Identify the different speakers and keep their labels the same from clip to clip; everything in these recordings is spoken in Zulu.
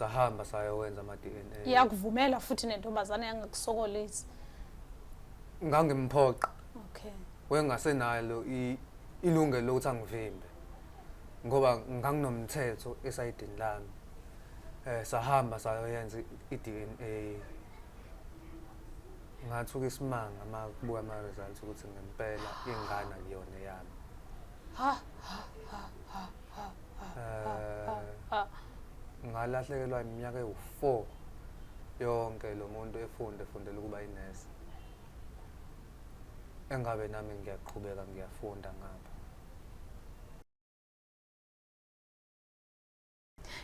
Speaker 1: sahamba sayowenza ama DNA iyakuvumela futhi
Speaker 2: nentombazane yangakusokolisi ngangimphoqa
Speaker 1: okay
Speaker 2: wengasenalo
Speaker 1: ilungelo lokuthi angivimbe ngoba nganginomthetho esayidini lami eh sahamba sayoyenza i-DNA ngathuka isimanga uma kubuka ama-results ukuthi ngempela ingane akuyona yami ha ha ha ha eh, ngalahlekelwa iminyaka ewu-four yonke lo muntu efunde efundela ukuba inesi engabe nami ngiyaqhubeka ngiyafunda ngapha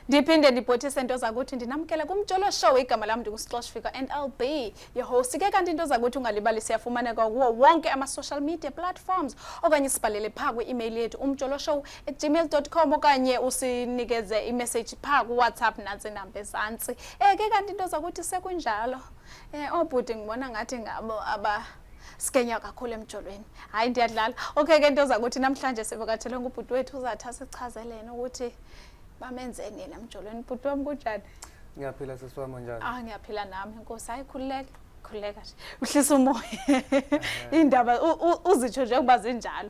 Speaker 2: ndiphinde ndibhothise into zakuthi ndinamkele kumjolo show igama lam ndingusicosh fika and i'll be your host ke kanti into zakuthi ungalibali siyafumaneka kuwo wonke ama-social media platforms okanye sibhalele phaa kwi-email yethu umjolo show gmail.com okanye usinikeze imessage pha kuwhatsapp nansi namba ezantsi um eh, ke kanti into zakuthi sekunjalo um eh, oobhuti ngibona ngathi ngabo aba sikenywa kakhulu emjolweni hayi ndiyadlala okay ke into zakuthi namhlanje sivakathelwe ngubhuti wethu uzathi asichazelene ukuthi bamenzeni yena emjolweni bhuti wam kunjani ngiyaphila sisi
Speaker 1: wam njani ah ngiyaphila nami
Speaker 2: nkosi hayi khululeka khululeka uhlisa umoya indaba uzitsho njengoba zinjalo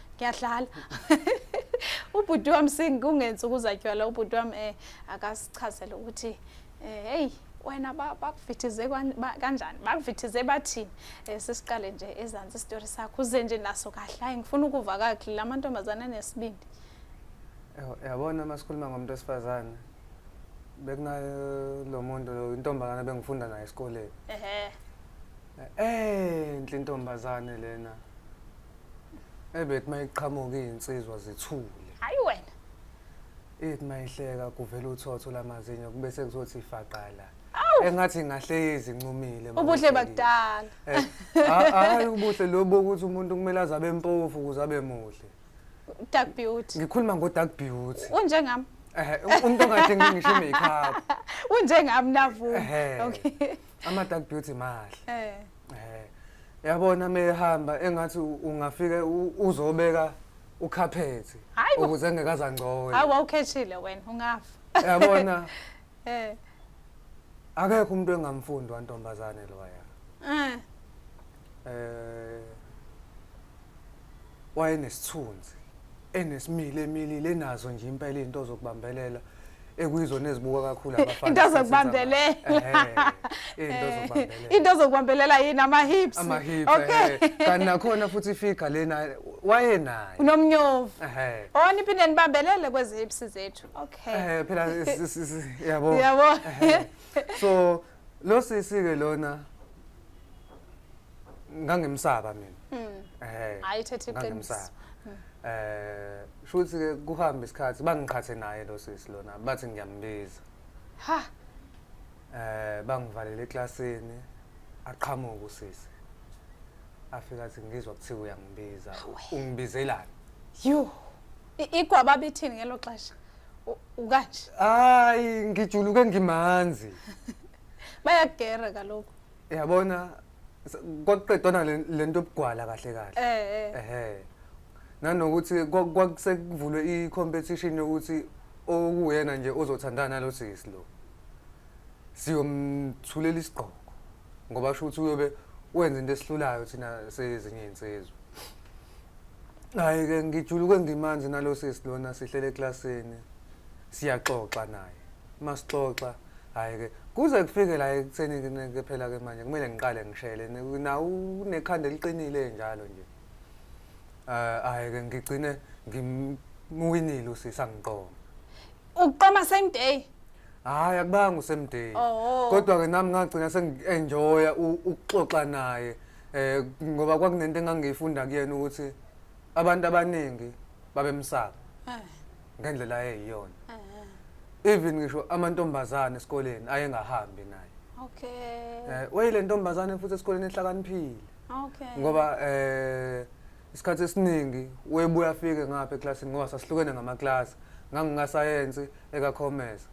Speaker 2: ngiyadlala ubhuti wami singungensi ukuzatywala ubhuti wami um akasichazele ukuthi um heyi wena bakuvithize kanjani bakuvithize bathini um sisiqale nje ezansi isitori sakho uze nje naso kahle hayi ngifuna ukuva kakhe la mantombazane anesibindi
Speaker 1: yabona uma sikhuluma ngomuntu wesifazane bekunalo muntu intombazane bengifunda naye esikoleni enhle intombazane lena ebethi uma iqhamuka iy'nsizwa zithule
Speaker 2: hhayi wena ithi
Speaker 1: uma ihleka kuvela uthotho lamazinyo kube sekuzothi ifaqala engathi ngahle izincumile ubuhle
Speaker 2: bakudala
Speaker 1: eh, hayi ubuhle lobo ukuthi umuntu kumele aze abe mpofu ukuze abe muhle dark
Speaker 2: beauty ngikhuluma ngo-dark
Speaker 1: beauty unjengami
Speaker 2: umuntu
Speaker 1: ongadingi ngisho i-makeup unjengami
Speaker 2: navu okay ama dark beauty
Speaker 1: mahle eh eh yabona mehamba engathi ungafike uzobeka ukhaphethi ukuze ngekaza ngcoyo hayi wawukhethile
Speaker 2: wena ungafa yabona
Speaker 1: eh akekho umuntu engamfundi wantombazane loya eh eh wayenesithunzi enesimile emilile enazo nje impela izinto zokubambelela ekuyizona ezibuka kakhulu abafana into zokubambelela
Speaker 2: into zokubambelela into zokubambelela yini ama hips ama hips okay
Speaker 1: kanti nakhona futhi figure lena wayenayo unomnyovu
Speaker 2: ehe oh niphinde nibambelele kwezi hips zethu okay eh phela
Speaker 1: yabo yabo so Lo sisi ke lona ngangimsaba mina. Mm. Eh. Hayi thatha
Speaker 2: iqiniso. Hmm. Eh,
Speaker 1: shuthi ke kuhamba isikhathi bangiqhathe naye lo sisi lona bathi ngiyambiza. Ha. Eh, bangivalele eklasini aqhamuka usisi. Afika athi ngizwa kuthiwa uyangibiza. Ungibizelani? Yo.
Speaker 2: Igwaba bithini ngelo xesha? U- ukanje hayi
Speaker 1: ngijuluke ngimanzi
Speaker 2: bayagera kaloku yabona
Speaker 1: s- kwakuqedwana le- le nto obugwala kahle kahle eh eh ehe nanokuthi kwa- kwakusekuvulwe i-competition yokuthi owuyena nje ozothandana nalo sisi lo siyomthulela isigqoko ngoba sho ukuthi uyobe wenza into esihlulayo thina sezinye insizwa hayi ke ngijuluke ngimanje nalo sisi lona sihlele eklasini siyaxoxa naye masixoxa hayi ke kuze kufike la ekutheni ke phela ke manje kumele ngiqale ngishele na unekhanda eliqinile njalo nje eh hayi ke ngigcine ngimwinile usisi angiqoma Uqoma
Speaker 2: same day. Hayi akubanga
Speaker 1: usame day. Oh. Kodwa ke nami ngagcina sengienjoya ukuxoxa naye. Eh ngoba kwakunento engangiyifunda kuyena ukuthi abantu abaningi babemsaka. Eh. Ngendlela eyiyona. Eh. Even ngisho amantombazane esikoleni ayengahambi naye. Okay.
Speaker 2: Eh wayile ntombazane futhi
Speaker 1: esikoleni ehlakaniphile. Okay. Ngoba
Speaker 2: eh
Speaker 1: isikhathi esiningi webuya afike ngapha eklasini ngoba sasihlukene ngamaklasi ngangingasayensi ekakhomesa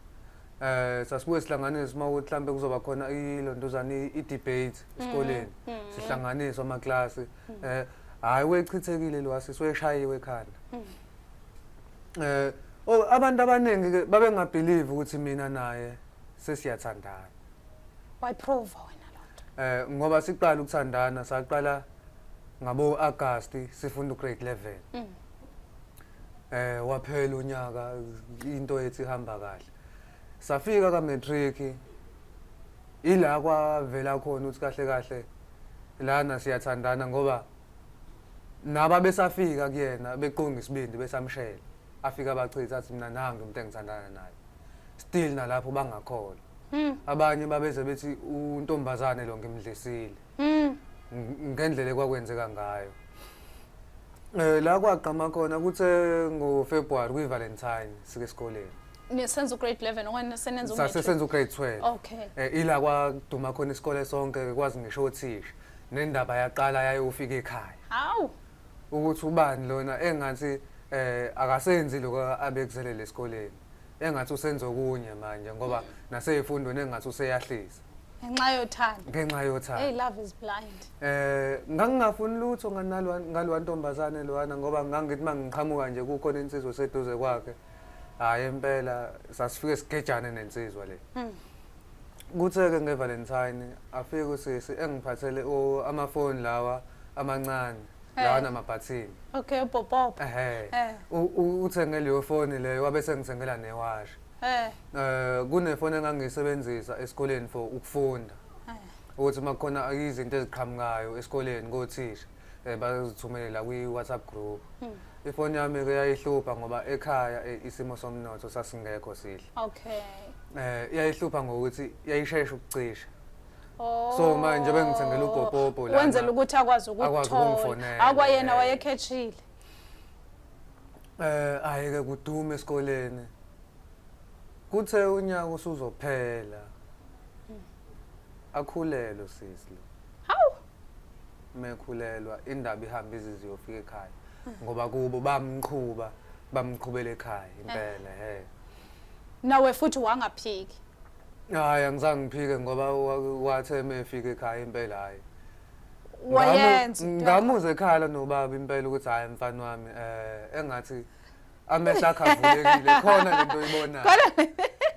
Speaker 1: eh sasibuye sihlanganise uma ukuthi mhlambe kuzoba khona ilondozane i-debate esikoleni mm, mm. sihlanganise amaklasi mm. eh hayi wechithekile lo asisi weshayiwe ekhanda eh oh, abantu abaningi ke babengabelieve ukuthi mina naye sesiyathandana
Speaker 2: wayiprova wena lonto eh ngoba siqala
Speaker 1: ukuthandana saqala Ngabo-Agasti sifunda ugrade 11. Mm. Eh waphela unyaka into ethi ihamba kahle. Safika ka matric ila kwavela khona ukuthi kahle kahle lana siyathandana ngoba naba besafika kuyena beqonga isibindi besamshela afika abachitha athi mina nangi umuntu engithandana naye still nalapho bangakholwa hmm. abanye babeze bethi untombazane lo ngimdlisile Mm. Ngendlela ekwakwenzeka ngayo. Eh la kwagqama khona kuthe ngo February kwi Valentine sike esikoleni. Nisenza
Speaker 2: ugrade 11 okanye senenza ugrade 12. Sasesenza ugrade 12.
Speaker 1: Okay. Eh ila
Speaker 2: kwaduma
Speaker 1: khona isikole sonke kwazi ngisho othisha. Nendaba yaqala yayofika ekhaya. Hawu.
Speaker 2: Ukuthi
Speaker 1: ubani lona engathi eh akasenzi lokho abekuzelele esikoleni. Engathi usenza okunye manje ngoba naseyifundweni engathi useyahlisa. ngenxa yothando
Speaker 2: ngenxa yothando hey
Speaker 1: love is blind
Speaker 2: eh ngangingafuni
Speaker 1: lutho nganalwa ngalwa ntombazane lwana ngoba ngangithi mangiqhamuka nje kukhona insizwa seduze kwakhe hayi impela sasifike sigejane nensizwa le hmm. kutheke ngevalentine afike usisi engiphathele amafoni lawa amancane eh. lawa namabhathini okay upopopo
Speaker 2: ehe eh.
Speaker 1: uthenge leyo foni leyo wabe sengithengela newashi Eh. Eh kunefoni engangiyisebenzisa esikoleni for ukufunda. Eh. Ukuthi makukhona izinto eziqhamukayo esikoleni kothisha eh bazithumelela kwi WhatsApp group. Hmm. Ifoni yami ke yayihlupha ngoba ekhaya eh, isimo somnotho sasingekho sihle. Okay.
Speaker 2: Eh yayihlupha
Speaker 1: ngokuthi yayishesha ukucisha. Oh. So
Speaker 2: manje
Speaker 1: bengithengela upopopo la. Wenzela ukuthi akwazi
Speaker 2: ukuthola. Akwayena wayekhethile. Eh
Speaker 1: ayeke kudume esikoleni. Kuthe unyaka usuzophela. Akhulelwe sisi. Hawu. Mekhulelwa indaba ihamba izizi yofika ekhaya. Ngoba kubo bamqhuba bamqhubela ekhaya impela he.
Speaker 2: Nawe futhi wangaphiki. Hayi
Speaker 1: angizange ngiphike ngoba wa- wathe mefika ekhaya impela hayi.
Speaker 2: wayenza into- ngamuzwa
Speaker 1: ekhala nobaba impela ukuthi hhayi mfana wami um engathi amehlo akhe avulekile khona le nto oyibonayo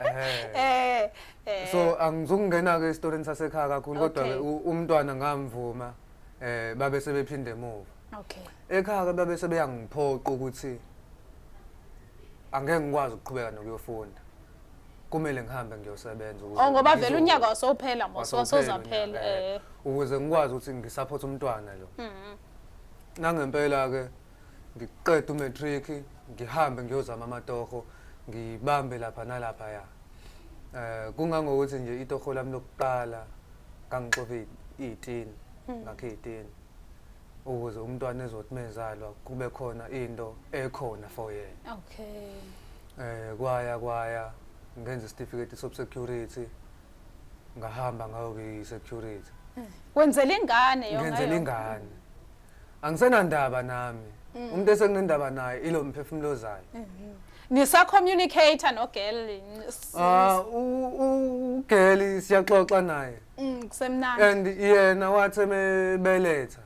Speaker 1: Eh. eh eh so angizukungena-ke esitorini sasekhaya kakhulu kodwa-ke Okay. u- umntwana ngamvuma um babe sebephinde emuva okay ekhaya-ke
Speaker 2: babe
Speaker 1: sebeyangiphoqa ukuthi angeke ngikwazi ukuqhubeka nokuyofunda kumele ngihambe ngiyosebenza ukuze Oh ngoba vele ngizo- unyaka
Speaker 2: wasophela mos wasophela wasozaphela unyaka, eh eh. ukuze
Speaker 1: ngikwazi ukuthi ngisaphote umntwana lo Mhm. nangempela-ke ngiqeda umatric ngihambe ngiyozama amatoho ngibambe lapha nalaphaya um kungangokuthi nje itoho lami lokuqala ngangixove iy'tini ngakhe iy'tini ukuze umntwana ezothi mezalwa kube khona into ekhona for yena okay
Speaker 2: eh kwaya kwaya
Speaker 1: ngenza isitifiketi sobsecurity ngahamba ngayobe security eh, wenzela
Speaker 2: ingane yona ngenzela ingane
Speaker 1: angisenandaba nami mm. umuntu esenginendaba naye ilo mphefumulo zayo mhm. Nisa
Speaker 2: communicator no girl. Ah u
Speaker 1: girl siyaxoxa naye. Mm kusemnandi.
Speaker 2: And yena
Speaker 1: wathi ebeletha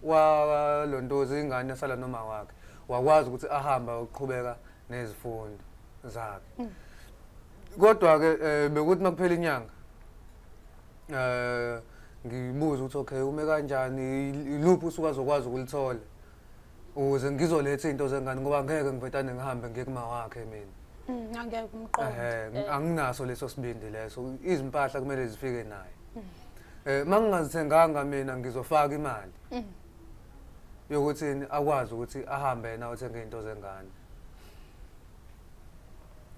Speaker 1: wa lontozi ingane sala noma wakhe. Wakwazi ukuthi ahamba ukuqhubeka nezifundo zakhe. Mm. Kodwa ke eh, bekuthi makuphela inyanga. Eh ngibuza ukuthi okay ume kanjani iluphi usuka zokwazi ukulithola. ukuze ngizoletha into zengane ngoba ngeke ngivetane ngihambe ngiye kuma wakhe mina Mm, angeke umqondo ehe
Speaker 2: anginaso leso
Speaker 1: sibindi leso izimpahla kumele zifike naye eh mangingazithenganga mina ngizofaka imali yokuthi akwazi ukuthi ahambe yena othenge into zengane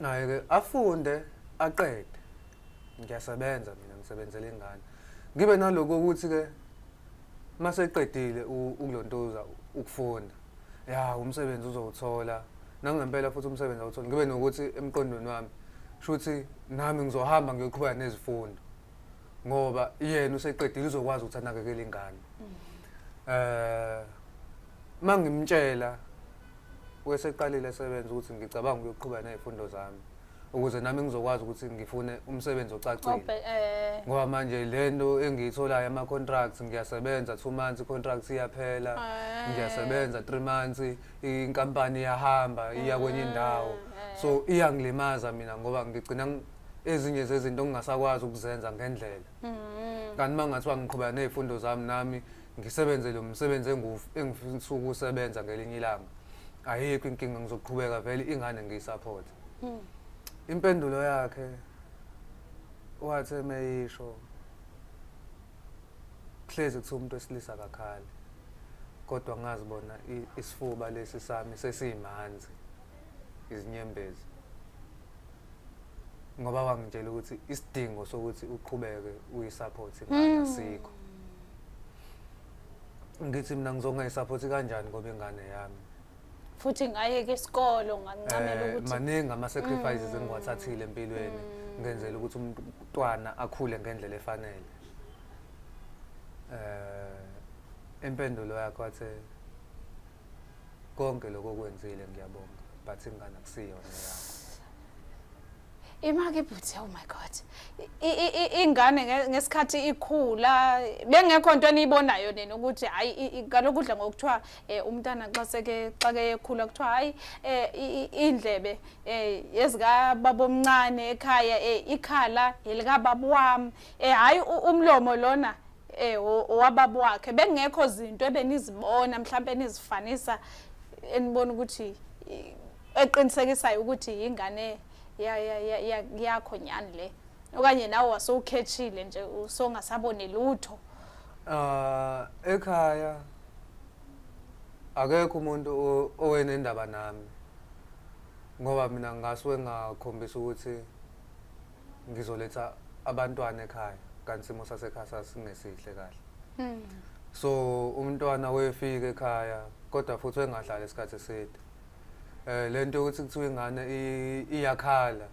Speaker 1: naye ke afunde aqede ngiyasebenza mina ngisebenzela ingane ngibe naloko ukuthi ke uma seqedile ukulontuza ukufunda ya umsebenzi uzowuthola nangempela futhi umsebenzi awutholi ngibe nokuthi emqondweni wami shuthi nami ngizohamba ngiyoqhubeka nezifundo ngoba yena useqedile uzokwazi ukuthi anakekele ingane eh mangimtshela weseqalile esebenza ukuthi ngicabanga ukuyoqhubeka nezifundo zami ukuze nami ngizokwazi ukuthi ngifune umsebenzi ocacile Obe- eh, ngoba manje le nto engiyitholayo ama-contracts ngiyasebenza two months i-contract iyaphela Eh. ngiyasebenza three months inkampani iyahamba iya kwenye indawo eh. so iyangilimaza mina ngoba ngigcina ng- ezinye zezinto ngingasakwazi ukuzenza ngendlela mm, kanti uma ngathiwa ngiqhubeka ney'fundo zami nami ngisebenze lo msebenzi engu- engifisa ukusebenza ngelinye ilanga ayikho inkinga ngizoqhubeka vele ingane ngiyisaphothe Hmm. Impendulo yakhe wathe meyisho hlezi kuthiwa umuntu wesilisa akakhali kodwa ngazi bona isifuba lesi sami sesiyimanzi izinyembezi ngoba wangitshela ukuthi isidingo sokuthi uqhubeke uyisupport ingane hmm. sikho ngithi mina ngizongayisupport kanjani ngoba ingane yami futhi
Speaker 2: ngayeka isikolo ngancamela eh, ukuthi maningi ama sacrifices
Speaker 1: mm. engiwathathile empilweni mm. ngenzela ukuthi umntwana akhule ngendlela efanele eh impendulo yakho athe konke lokho kwenzile ngiyabonga but ingane akusiyona yakho Imaki
Speaker 2: bhuthi oh my god. Ingane ngesikhathi ikhula bengekho into eniyibonayo nina ukuthi hayi kaloku udla ngokuthiwa eh, umntana xa seke xa ke ekhula kuthiwa hayi eh, indlebe eh, yezika babomncane ekhaya ikhala elika babu wam hayi umlomo lona eh owababu wakhe bengekho izinto ebenizibona mhlawumbe nizifanisa enibona ukuthi eqinisekisayo ukuthi yingane yakho nyani le okanye nawe wasowukhethile nje usongasaboni lutho ah
Speaker 1: ekhaya akekho umuntu owenendaba nami ngoba mina ngasuke ngakhombisa ukuthi ngizoletha abantwana ekhaya kanti simo sasekhaya sasingesihle kahle hmm. so umntwana wefika ekhaya kodwa futhi engahlali isikhathi eside eh lento yokuthi kuthiwa ingane i- iyakhala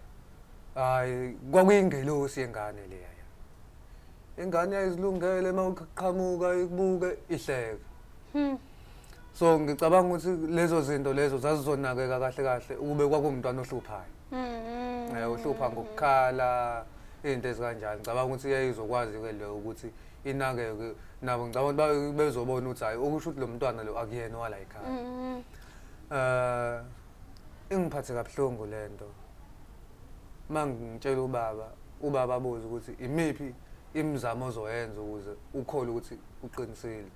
Speaker 1: hayi kwakuyingelosi yengane leya ingane yayizilungele uma uqhamuka ikubuke ihleka so ngicabanga ukuthi lezo zinto lezo zazizonakeka kahle kahle ukube kwakuwumntwana ohluphayo um uhlupha ngokukhala izinto ezikanjalo ngicabanga ukuthi yayizokwazi-ke leyo ukuthi inakeke nabo ngicabanga ukuthi ba- bezobona ukuthi hhayi okusho ukuthi lo mntwana lo akuyena owala yikhaya Eh ingiphathe kabuhlungu lento. Mangitshela ubaba, ubaba abuze ukuthi imiphi imizamo ozoyenza ukuze ukhole ukuthi uqinisile.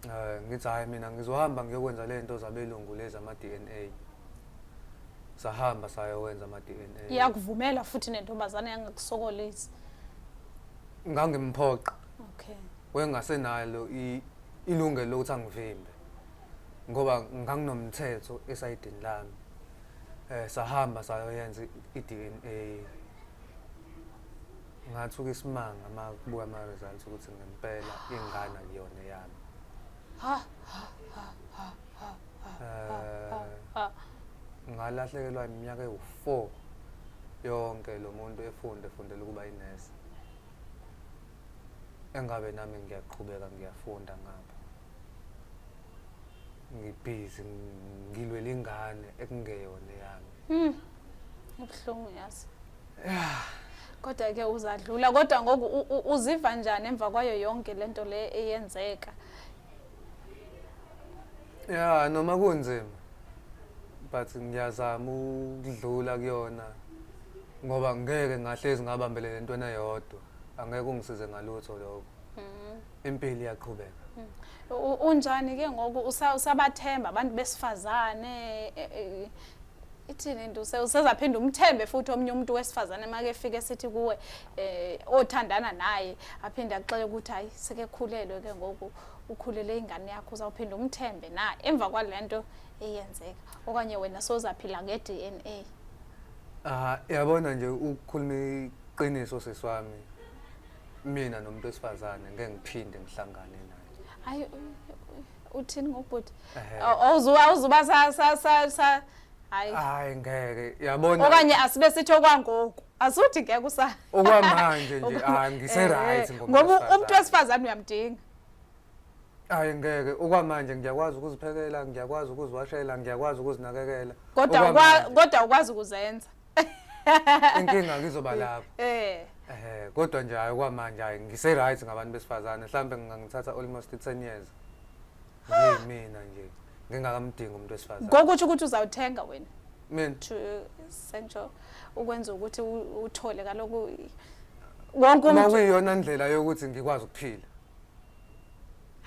Speaker 1: Eh ngithi hayi mina ngizohamba ngiyokwenza lento zabelungu lezi ama DNA. Sahamba sayowenza ama DNA. Iyakuvumela futhi
Speaker 2: nentombazane yangakusokolisi.
Speaker 1: Ngangimphoqa. Okay.
Speaker 2: Wengasenalo
Speaker 1: i ilungelo lokuthi angivimbe ngoba nganginomthetho esayidini lami eh sahamba sayoyenza i-DNA ngathuka isimanga uma kubuka ama-results ukuthi ngempela ingane akuyona eyami Eh, ngalahlekelwa iminyaka ewu-four yonke lo muntu efunde efundela ukuba inesi engabe nami ngiyaqhubeka ngiyafunda ngapha ngibhizi ngilwela ingane ekungeyona yami hmm. ubuhlungu
Speaker 2: yazi kodwa ke uzadlula kodwa ngoku uziva njani emva kwayo yonke lento le eyenzeka
Speaker 1: ya noma kunzima but ngiyazama ukudlula kuyona ngoba ngeke ngahlezi ngabambelele entweni eyodwa angeke ungisize ngalutho lokho mm. impilo iyaqhubeka mm. unjani
Speaker 2: ke ngoku usabathemba abantu besifazane e, e, ithini into usezaphinda umthembe futhi omunye umuntu wesifazane make efike sithi kuwe eh othandana naye aphinde akuxele ukuthi hayi sekekhulelwe ke ngoku ukhulele ingane yakho uzawuphinda umthembe na emva kwalento eyenzeka okanye wena sozaphila nge-DNA ah
Speaker 1: yabona nje ukukhuluma Qiniso sisi wami. Mina nomuntu wesifazane ngeke ngiphinde ngihlangane naye. Hayi
Speaker 2: uthini ngobhuti? Awuzuba awuzuba sa sa sa
Speaker 1: sa
Speaker 2: hayi. Hayi ngeke. Yabona.
Speaker 1: Okanye asibe
Speaker 2: sithi okwangoku. Asuthi ngeke usa. Okwamanje nje
Speaker 1: ah ngise right ngoba. Ngoba umuntu wesifazane
Speaker 2: uyamdinga.
Speaker 1: Hayi ngeke okwamanje ngiyakwazi ukuziphekela ngiyakwazi ukuziwashela ngiyakwazi ukuzinakekela kodwa kodwa
Speaker 2: ukwazi ukuzenza
Speaker 1: inkinga ngizoba lapho eh eh kodwa nje hayi kwamanje hayi ngise right ngabantu besifazane mhlambe ngingangithatha almost 10 years nje mina nje ngingakamdingi umuntu wesifazane ngokuthi ukuthi uzawuthenga
Speaker 2: wena mina to sentsho ukwenza ukuthi uthole kaloku wonke umuntu uma kuyiyona indlela yokuthi
Speaker 1: ngikwazi ukuphila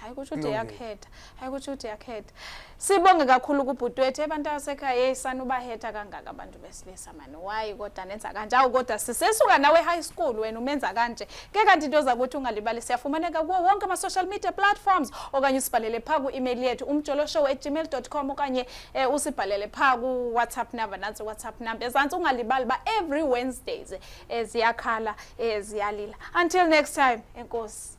Speaker 2: hayi kusho ukuthi uyakhetha hayi kusho ukuthi uyakhetha sibonge kakhulu kubhuti wethu abantu abasekhaya yeyi sanubahetha kangaka abantu besilisa mani wayi kodwa nenza kanje awu kodwa sisesuka nawe high school wena umenza kanje ke kanti into zakuthi ungalibali siyafumaneka kuwo wonke ama-social media platforms okanye usibhalele phaa ku-email yethu umjoloshow at gmail com okanye um usibhalele phaa ku-whatsapp number nantsi whatsapp number ezantsi ungalibali uba every wednesdays eh, ziyakhala eh, ziyalila until next time enkosi